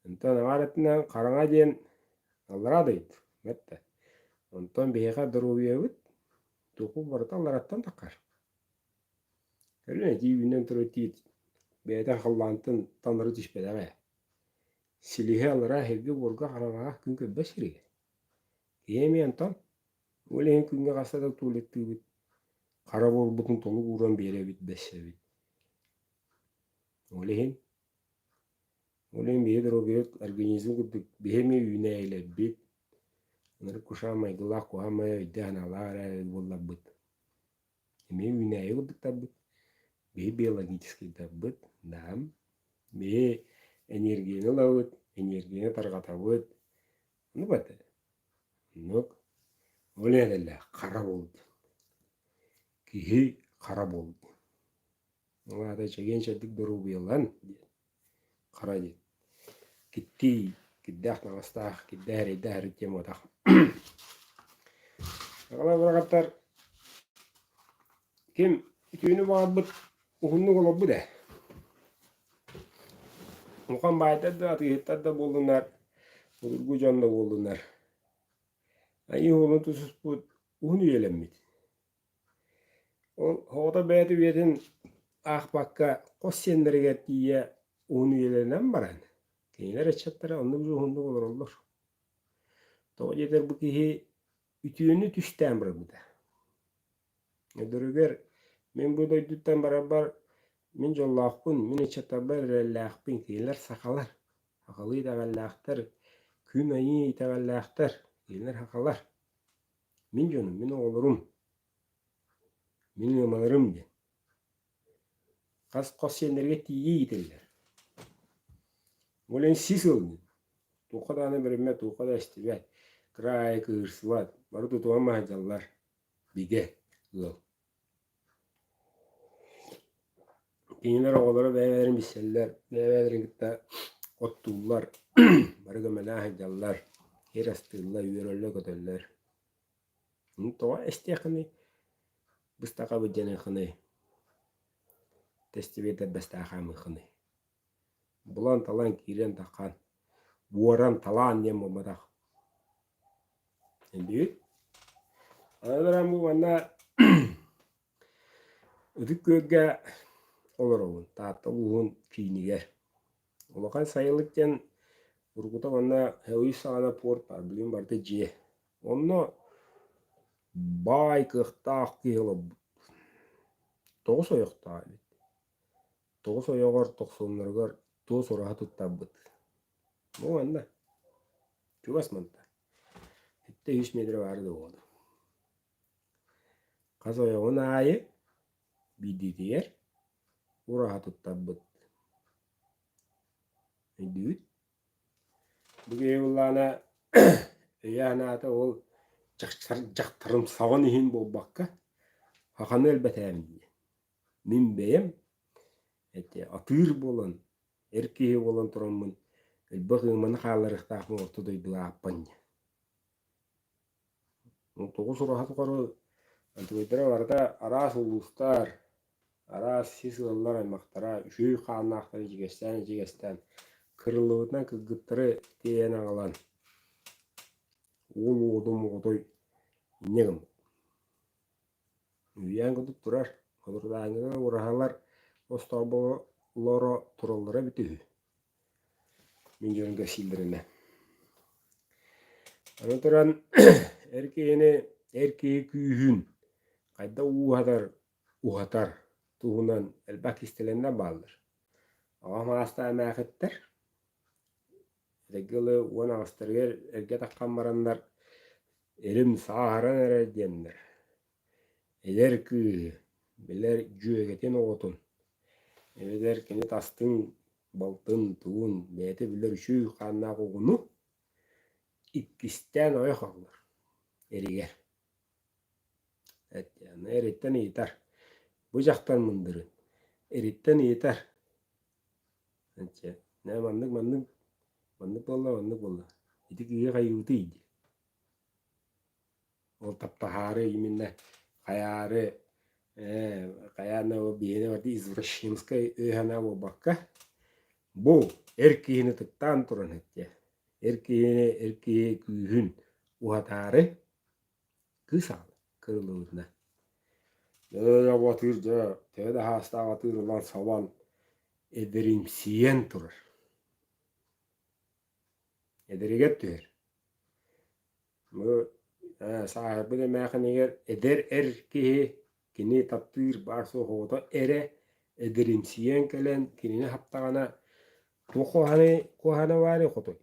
Онтон аҕаар өттүнэн хараҥа диэн аллараа дойду бэртэ. Онтон биһиэхэ доруобуйабыт тугу барыта аллараттан таххар. Кэлин итии үүнэн турар тиит бэйэтэ халлаантан таҥнары түспэтэҕэ. Силиһэ аллараа эһиги буорга хараҥаҕа күн көрбөт сиригэр. Киһи эмиэ онтон Ол иһин күҥҥэ хаста да туолаттыыбыт, хара буолбутун толук ууран биэрэбит, бэссэбит. Ол иһин ол иһин биһи доруобуйа организм курдук биһи эмиэ үүнээйилэрбит, ынырык кушаам майгылаах куһаҕан майа өйдөөн-санаалаах эрэ буолларбыт эмиэ үүнээйи курдуктарбыт, бии биологическайдарбыт, даам, бии энергияны ылабыт, энергияны тарҕатабыт, ону бата. Оннук. Ол эрэлэ хара буолбут. Киһи хара буолбут. Ваада чэгиэн-чэбдик доруобуйалан диэн хара диэн киттии кирдээх таҥастаах кирдээх эрэйдээх өрүт диэн уотах Аҕалар быраҕаттар ким түүнү баҕарбыт уһуннук олорбут ээ Мухан баайтар да атыыһыттар да буоллунар будургу дьон да буоллунар айыы уолун тусуспут уһун үйэлэммит Ол оҕото бэйэтэ үйэтин аахпакка хос сиэннэригэр тиийэ уун үйэлэринэн баран, кинилэр ыччаттара оннук дьуһуннук олороллор. Тоҕо диэтэр бу киһи үтүөнү түстээн барбыта. Өдөрүгэр мин бу дойдуттан барарбар мин дьоллоохпун, мин ыччаттарбар эрэллээхпин, кинилэр сахалар, сахалыы итэҕэллээхтэр, күн айыы итэҕэллээхтэр, кинилэр сахалар. Мин дьонум, мин оҕолорум, мин ыамаларым диэн хас хос сиэннэргэ тиийии иитиллэр. Ол иһин сис ыалдьыт. Туохха даҕаны бэриммэт, туохха да эстибэт, кыра аайы кыырсыбат, бары тутуһан маһайдаллар. Бигэ ыал. Кинилэр оҕолоро бэйэ-бэйэлэрин билсэллэр, бэйэ-бэйэлэрин кытта оттууллар, бары көмөлөөн сылдьаллар, сир астыыллар, үөрөллөр-көтөллөр. Тоҕо эстиэххиний, быстах абыдьаныаххыный, тэстибиэтэр бастаан хаамыаххыный Булан-талан киирэн-тархан, буоран-талаан диэн буолбатах. Билбит? Аны туран бу манна ытык күөлгэ олоробун. Таатта улууһун киинигэр. Улахан сайылык диэн уруккута манна өй саҕана порт баар, билигин барыта дьиэ. Онно баай кыахтаах киһи олорбут. Тоҕус ойохтоох эбит. тоҕус ойоҕор тохсунноругар туос ураһа туттарбыт ну манна чугас манта сэттэ үс метрэ баара да буолуо хас ойоҕун аайы биирдиитигэр ураһа туттарбыт өйдүүбүт бу киһи ыллаана өйөөн аата ол дьахтарымсаҕын иһин буолбакка хаханы өлбөтөөмүн диэн мин бэйэм эти атыыр буолан эр киһи буолан тураммын элбэх ыманы хааларыктаахпын орто дойдуга ааппан дьэ ну тоҕус ураһа тухары антыбайдара барыта араас улуустар араас сис ыаллар аймахтара үчүгэй хааннаахтарын ичигэстээн ичигэстээн кырыллыбытынан кыргыттары тиэйэн аҕалан уол уодум оҕотой инньэ гыммыт Үүйээн курдук турар, худурдаанньыга ураһалар остооболлоро тураллара эбитэ үһү. Мин дьонум кэпсииллэринэ. Аны туран эр киһини эр киһи күүһүн хайда ууһатар уһатар туһунан элбэх кистэлэҥнэр бааллар. Аҕам аастаан эмээхиттэр эдэрги ыла уон аҕыстарыгар эргэ таххан бараннар «Эрим сааһыран эрэ» диэннэр. Эдэр кыыһы, билэр дьүөгэтин оҕотун, эбэтэр кини тастын, балтын, тугун бэйэтэ билэр үчүгэй хааннаах оҕону иккистээн ойох аҕалар эригэр. Аны эриттэн ыйытар: «Бу дьахтар мындырын?» Эриттэн ыйытар: Эчэ, наа маннык маннык маннык буолла маннык буолла ити киһи хайыытый дии ол таптаһаары именно хайаары ээ хайаана биһиэнэ барды извращенскай өйһана буолбакка бу эр киһини ытыктаан туран соччо эр киһини эр киһи күүһүн уһатаары кыыс аал кырыллыбытына атыыр дьэ төһө да саастаах атыыр ылан сабан эдэримсийэн турар эдэригэр түһэр ээ сааһырбыт эмээхинигэр эдэр эр киһи кини таптыыр баар суох оҕото эрэ эдэримсийэн кэлэн кинини хаптаҕына туох куһаҕаны куһаҕана баарый хотой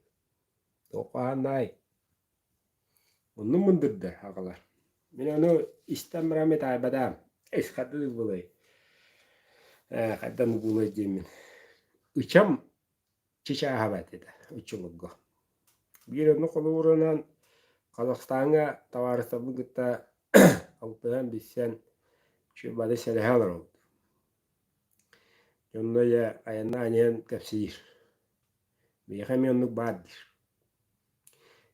туох куһаҕаннаай Оннум мындырда аҕалар. Мин ону истэн баран метаайбатаам. Ис хардыы ылбылай. Ээ, хайдам угуулай диэммин. Ычам чычааһабат этэ оччолорго. Биир ону холуурунан Казахстаҥҥа табаарыстарбын кытта алтыһан билсэн чү бары сэрэһэ олоробут. Дьонно ийэ айаннаан иһэн кэпсиир Биһиэхэ эмиэ оннук баар диир.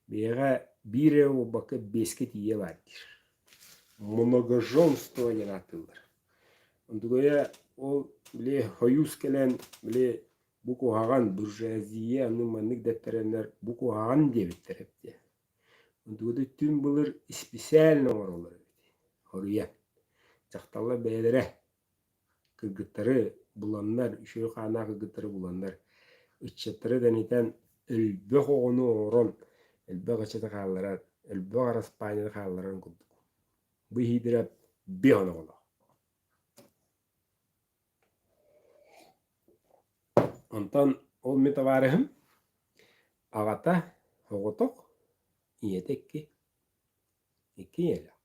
Биһиэхэ биир эрэ буолбакка биэскэ тиийэ баар диир. Многоженство диэн ааттыыллар. Ондугуйа ол били хойуус кэлэн били бу куһаҕан буржуазия аны маннык дэптэрэннэр бу куһаҕан диэбиттэр эбитэ. Ондугуйа түҥ былыр исписээлинэ оҥороллор эбит. Хоруйан. Дьахталлар бэйэлэрэ Кыргыттары буланнар, үчүгэй хааннаах кыргыттары буланнар, ыччаттары тэнитэн, элбэх оҕону оҥорон, элбэх ыччаты хаалларан, элбэх араспаанньаны хаалларан курдук. Бу иһиитирэ биһон оҕолоох. Онтон ол мин табаарыһым аҕата оҕотох, ийэтэ икки. Икки ийэлээх.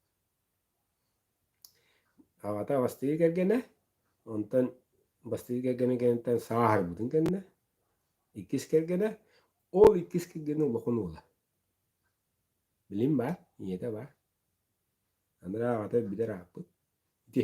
Аҕата бастыҥы кэргэнэ, онтон бастыҥы кэргэнин кэнниттэн сааһырбытын кэннэ иккис кэргэнэ, ол иккис кэргэнэ улахан уола. Билим баар, ийэтэ баар. Аны аҕата бүдэр ааппыт ити.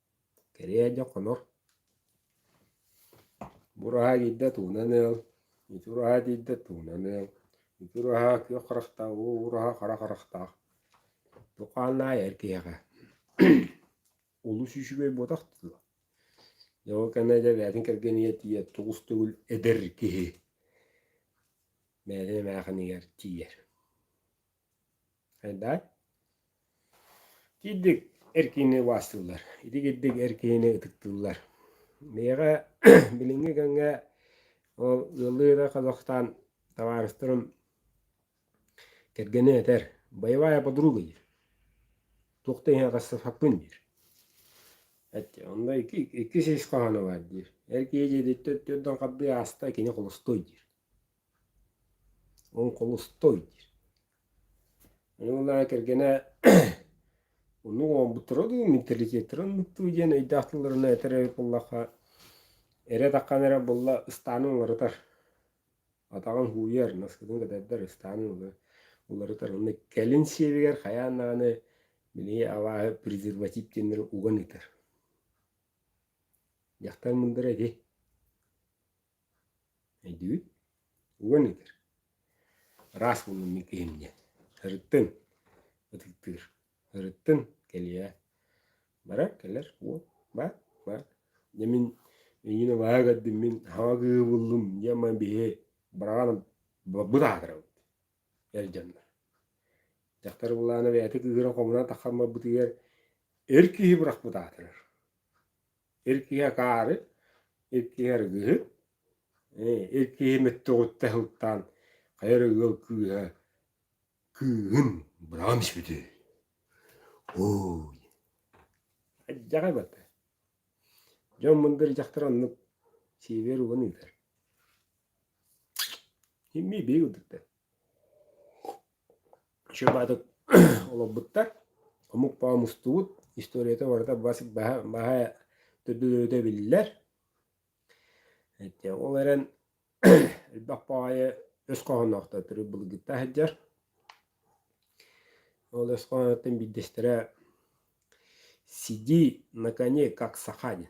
Кэриэһэ хонор, бу ураһа биирдэ туунан ыал, ити ураһа биирдэ туунан ыал, ити ураһа күөх харахтаах, уу ураһа хара харахтаах. Бу хааннаах эр киһиэхэ олус үчүгэй буотах дуо? Дьэ ол кэннэ дьэ бэйэтин кэргэн ийэ тиийэр, тугус төгүл эдэр киһи бэйэтин эмээхинигэр тиийэр. Айдаа. Киирдик эр киһини убаастыыллар. Ити киирдик эр киһини ытыктыыллар. Миэхэ билиҥҥи кэмҥэ ол ыаллыы эрэ Казахстан табаарыстарым кэргэнэ этэр, боевая подруга диир. Туох да иһин атастаспаппын диир. Эти онно икки иккис ис хоһооно баар диир. Эр киһи дьиэтиттэн түөрдэн хардыы ааста, кини холостой диир. Оҥхолостой диир. Ону кэргэнэ Онно оҥорбуттара дуу, менталитеттарын муттуу диэн өйдөөх тылларына этэр эбит буоллахха, эрэ атаххын эрэ булла ыстаанын уларытар. Атаҕын һууйар, наскытын кэтэрдэр, ыстаанын уларытар. Уонна кэлин сиэбигэр хайаан даҕаны били абааһы презерватив диэннэри уган ытар. Дьахтар мындара ити. Өйдүүн уон литр ыраас муннун мин киһим диэн сырыттын ытыктыыр сырыттын кэлиэ баран кэлэр уол бар бар дьэ мин үнньүнү баһа көрдүммүн хаҥа кыыбыллым дьэ ман биһи быраҕан быт аатырабыт эр дьоннор дьахтар былаана бэйэтэ кыыһыра хомуна таххан барбытыгар эр киһи бырахпыт аатырар Иккиһэ хаары, иккиһэ ыргыһы, иккиһи мүттүҕүттэ сылтаан хайа эрэ ыал кыыһа кыыһын быраҕан испитэ үһү. Ой, алдьарай бата. Дьон мындыр дьахтар оннук сиэбиэр уган ыытар. Иммии биһиги Чубатык олорбуттар. Омук баҕа мустубут. Историята барыта бас баһа баһа төрдүлөрүтэ биллэр. Ити ол эрэн элбэх баҕайы өс хоһоонноохтор төрүт былыргыттан сылдьар. Ол өс хоһооннортон биирдэстэрэ Сиди на коне, как саха диэн.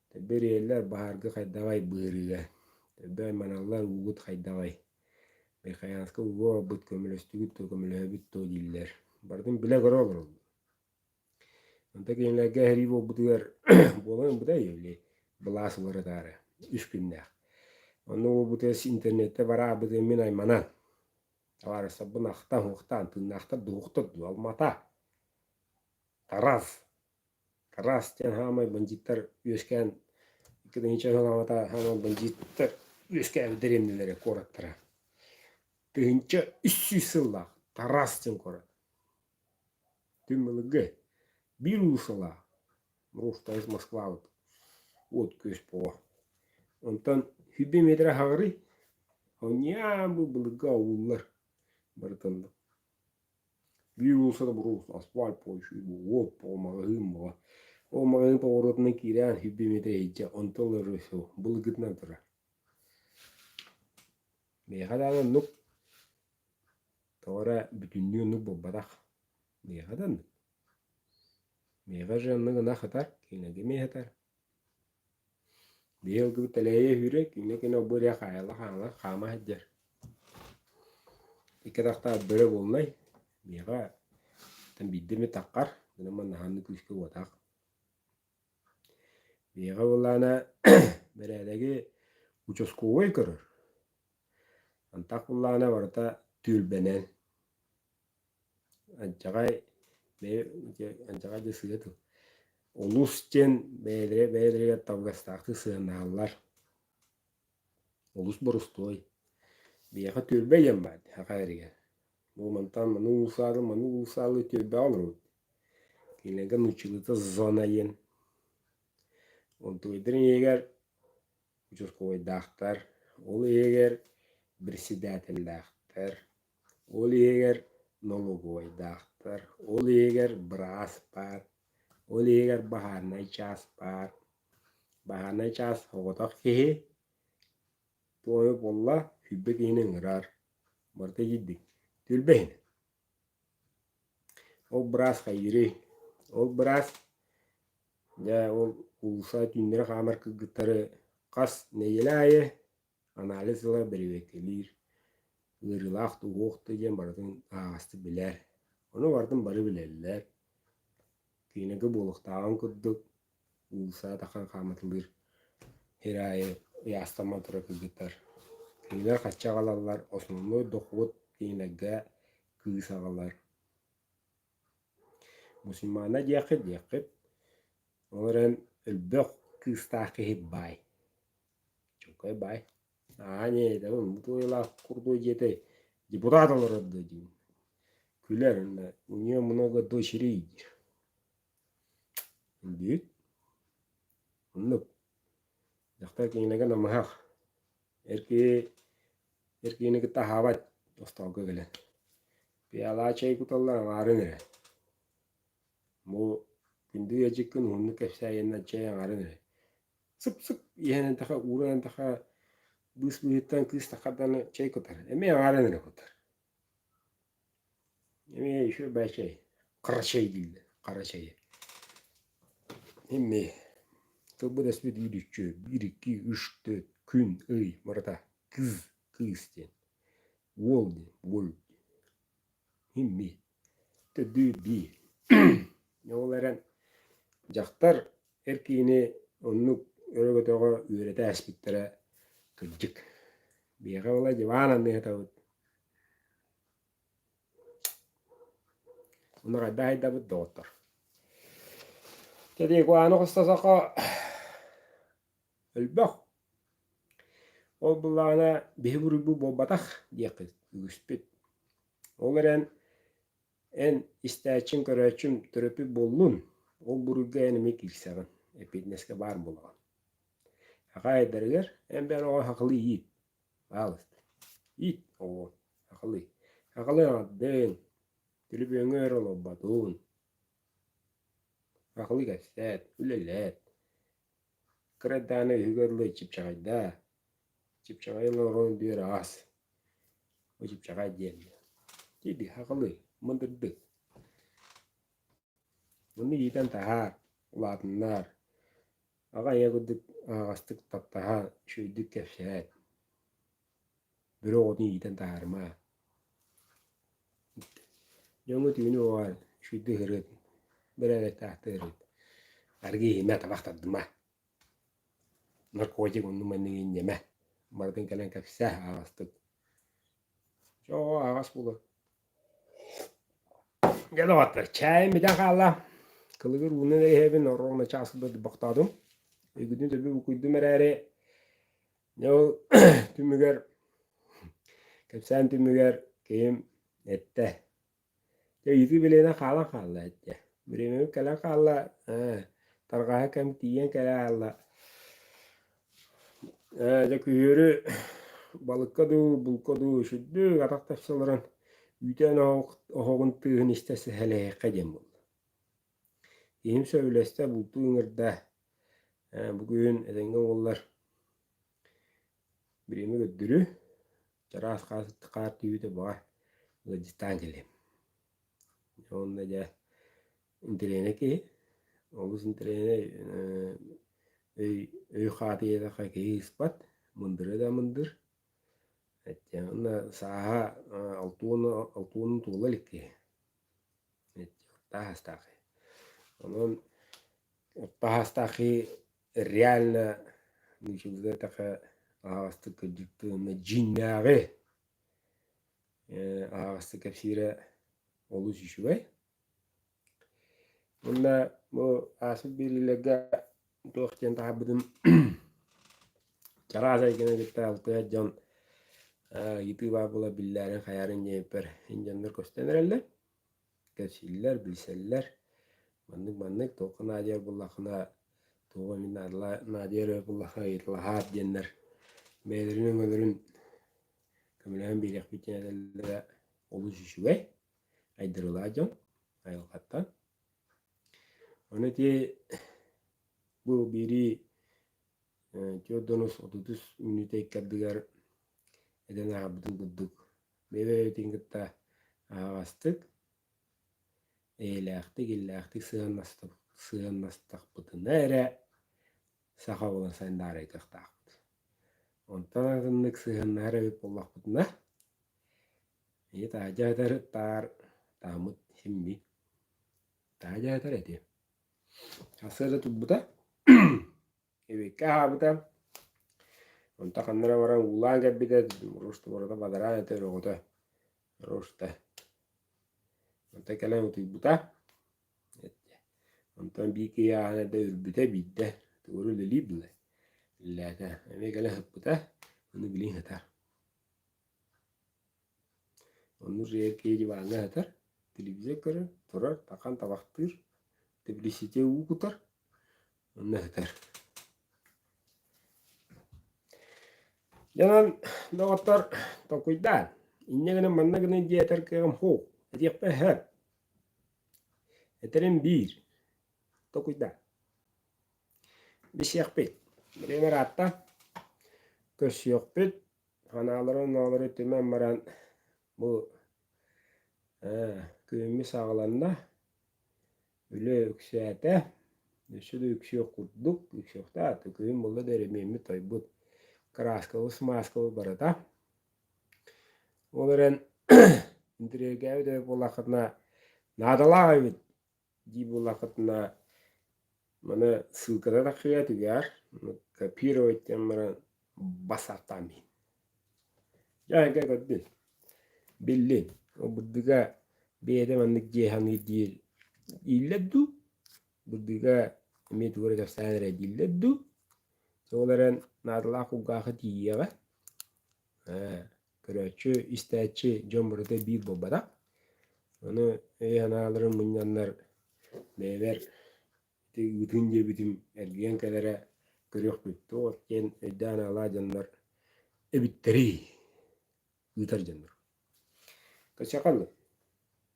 Тэбириэлэр баһаарга хайдаҕай быарыыга, төрдөөй маналлар уугут хайдаҕай? Михайловска ууга оҥорбут көмөлөстүгүт дуо, көмөлөһөбүт дуо дииллэр. Барытын билэ көрө олороллор. Онто кинилэргэ эһэлии буолбутугар буолан ылбытай или былаас уларытаары үс күннээх. Онно уолбутугар интернетте бараабытын мин айманан табаарыстарбын ахтан-уохтаан тыыннаахтар доҕохтор дуо, Алмата, Тарас, Араас диэн саамай бандьыыттар үөскээн итинникчэ сыанаабата саамай бандьыыттар үөскээбиттэр иннилэрэ куораттара. Тыһыынча үс сүүс сыллаах Тарас диэн куорат. Күн былыргы биир уулуссалаах муруустабыт Москвабыт уот күөс буолуо. Онтон сүбэ миэдэрэ хаҕырый, оонньоон бу былыргы ауллар барыта онно. Биир уулусса табуруус, асфальт площадь, уот, ол маҕаһыын була. Ол маҕаһыын поворотунан киирэн хилби мүөтэ иһдьэ, онтон ыла рысыл былгытынан турар. Миэхэ даҕаны оннук тоҕо эрэ бүтүннүү оннук буолбатах. Миэхэ да оннук. Миэхэ же оннук ынах ытар, кинилэргэ миэхэ ытар. Быйыл кыбы тэлэйэ үүрэ, кинилэ кино бу эрэ хаайыла хааңла хаама сылдьар. Икки атахтаах бөрө буолнай, биһиэхэ оттон биирдэ эмит таххар, аны манна ханна күүскэ уотаах. Биһиэхэ былаана бэрээдэги участковай көрөр. Антах былаана барыта түөлбэнэн. Адьаҕай бэйэ дьэ адьаҕай да сыыһа дуу улус диэн бэйэлэрэ бэйэлэригэр табыгастаахтык сыһыанааллар. Олус борустуой. Биһиэхэ түөлбэ диэн баар дии саха эригэр. Бу мантан маны уулусаалыы маны уулусаалыы түөлбэҕэ олоробут. Кинилэргэ нууччалыыта зона диэн. Онтубайдарын иһигэр участковайдаахтар, ол иһигэр председателлээхтэр. Ол иһигэр нолуогуйдаахтар, ол иһигэр быраас баар, ол иһигэр баһааннай чаас баар. Баһааннай чаас соҕотох киһи туойу булла, сүүрбэ киһини ыҥырар. Барыта итийдик. Түөлбэһин. Ол быраас хайдырый? Ол быраас дьэ ол уулусса түүннэри хаамар кыргыттары хас нэдиэлэ аайы анализ ыла бэрэбиэркэлиир, ыарыылаах да уһуох да диэн барытын аһаҕастык билэр. Ону бардын бары билэллэр. Киинэгэ буолуохтааҕын курдук, уулусса атахан хаамытылыыр сир аайы ыйаастамман тура кыргыттар. Кинилэр хачча аҕалаллар, основной дохуот киинэгэ кыыс аҕалар. Мусульмаана диэххит диэххит, ол эрэн өлбөх кыыстаах киһи баай. Чуҥкай баай, аа ньээдэбин бу туойалаах курдук дьиэтэй депутат олорор дуо диир. Күлэр да у нее много дочерей диир. Бүт оннук. Дьахтар кинилэргэ намыһах. Эр киһи эр киһини кытта аһаабат тостолго кэлэн. Пиалаа чэй куталлар аҥаарын эрэ. Бу күндү ыалдьыккын уһуннук кэпсээйэннэр чэй аҥарын эрэ. сып-сып иһэн таха ууран таха быыс быыһыттан кыыстаха даны чэй кутар эми аҕааран эрэ кутар эми еще бай чай хара чай дииллэр хара чайы эми тылбыт эспит үүт үччү биир икки үс төрт күн ый барыта кыыс кыыс диэн уол диэн уол Имми, төрдүү-бии. Ол эрэн дьахтар эр киһини оннук өрө-көтөҕө үөрэтэ ааспыттара кырдьык. Биһиэхэ буолай дьыбаан анныһытабыт. Уну хайдах айдабыт доҕоттор? Кэрии куһааны хосто сохо Өлбөх. Ол былаана биһи буруйбут буолбатах диэххит үгүспүт. Ол эрэн эн истээччиҥ, көрөөччүм төрөппүт буоллун, ол буруйга эн эмиэ киирсэҕин, эппиэтинэскэ баар буолаҕын. Акаайдарыгар эн бэйэр оҕо сахалыы иит, хаалыста. Иит оҕоҕун, сахалыы. Сахалыы аҕардыҥ, төлөпүөҥҥө өр олорботун. Сахалыы кэпсээт, үлэлээт. Кыра дааны иһигэр ыллый чыпчаҕайдаа, чыпчаҕай олорорун бүөр аҕас, бу чыпчаҕай диэннэ, дии-дии хахылый, мындырдык. Ону иитэн таһаар, улаатыннаар, аҕа ийэ курдук аһаҕастык таптаһа, үчүгэйдик кэпсээт бөрө оҕотун иитэн таһаарымаа дьоҥҥо түүнү уҕан сүүрдэ ыһырыт бэрээдэктаахтыырын аргы иһимэ табах тардыма наркотик оннук маннык инньэмэ барытын кэлэн кэпсээ аҕастык чоо аҕас буолар дьэ доҕоттор чаайым бүтэн хаалла кылыгыр ууну да иһэбин ороҥ начаас курдук бохтоотум өйгүтүн төлбүр букуйдум эрээри Дьэ ол түмүгэр кэпсээн түмүгэр киһим эттэ ыйытыы билиэнэ хаалан хаалла эттэ бириэмэбит кэлэн хаалла ээ тарҕаһа кэм тиийэн кэлэ хаалла ээ дьэ күһүөрү балыкка дуу булка дуу сүрдүк атах тахсалларын үүтээн оһоҕун тыаһын истэ сэһэлэһиэххэ диэн буолла Киһим сөбүлэстэ, бултуу ыҥырда. Бу күһүн этэҥҥэ уоллар бириэмэ көрдөрү, чараас хаар түһүүтэ баҕа ыалдьыттаан кэллим. Уонна дьэ интэриэһинэй киһи, олус интэриэһинэй өй хаатыйата киһи ыспат, мындырыа да мындыр. Уонна сааһа алтыһыыны туола илик киһи. Таһаастаахый. Онон таһаастаахый реально миишигига этаха аһаҕастык кырдьыктыы уонна дьиҥнээҕи э аһаҕастык кэпсиирэ олус үчүгэй. Уонна бу ааспыт биллиилэргэ туох диэн таһарбытым чараас эйгene кытта дьон ютуба була биллээрин хаярын диэппэр дьоннор көстөн эрэллэр кэпсииллэр билсэллэр маннык маннык туохха наадыйар буллаххына туох эмит наадыйар өрө буллахха ыйытылаһаат диэннэр бэйэлэрин өҥөлөрүн көмөлөһөн биэриэхпит диэн этэллэрэ олус үчүгэй айдарылаах дьон айылҕаттан Ону итии бу биирии түөрт да онус отутус мүнүүтэ иккардыгар эдэн ааҕарбытын курдук бэйэ-бэйэбитин кытта аһаҕастык, эйэлээхтик, иллээхтик сыһыаннастахпытына эрэ саха буолан сандаарайдыахтаахпыт. Онтон атыннык сыһыннаһар эбит буоллахпытына, ийэ таа дьаатар таар таамыт симми таа дьаатар эти сарсыарда турбута эбиккэ аһаабыта онто ханнара баран уулаан кэлбитэ муруустубарата бадараан этэ өрөҕүтэ руста онто кэлэн утуйбута Онтон биир киһи ааһан эрдэ үрбүтэ биирдэ тугуну үлэлиир буолай? Үлэлээтэ. Эмиэ кэлэн сыппыта, ону билигин сытар. Ону киһи диваҥҥа сытар, телевизор көрөр, турар, тархан табахтыыр, тэбилиситиэ уу кутар, онно сытар. Дьэ онон, доҕоттор, толкуйдаан, инньэ гынан манна гынан дии этэр кыаҕым суох, этиэхпэ сөп. Этэрим биир, токуйда. Бисиэхпит, билиҥ ыраатта, көссүөхпүт, ханаалары-оноолору түмэн баран, бу күһүҥҥү саҕаланна, үлэ үксээтэ, өссө да үксүөх курдук, үксүөхтээҕэ, күһүн булла да эрэ миэммит-тойбут, кырааскабы-смааскабы барыта Ол эрэн интэриэргээбит эбит буоллаххытына, наадалаах эбит дии буоллаххытына, маны ссылката таххыйа түгээр, копировать диэн баран бас артаан диһин. Дьэ эгэ көрдүн, биллин, бырдыга бэйэтэ маннык дьиэ саныыр диир ииллэр дуу? бырдыыга эмиэ тугу эрэ кэпсээн эрэ дииллэр дуу ол эрэн наадалаах кулгаахы тиийиэҕэ ээ көрөөччү истээччи дьон барыта биир буолбатах ону өй санааларын мунньаннар бэйэбэр ити ыытыын диэбитим эргийэн кэлэрэ көрүөхпүт туох диэн өйдөөн аалаа дьоннор эбиттэрий ыытар дьоннор кочакаллы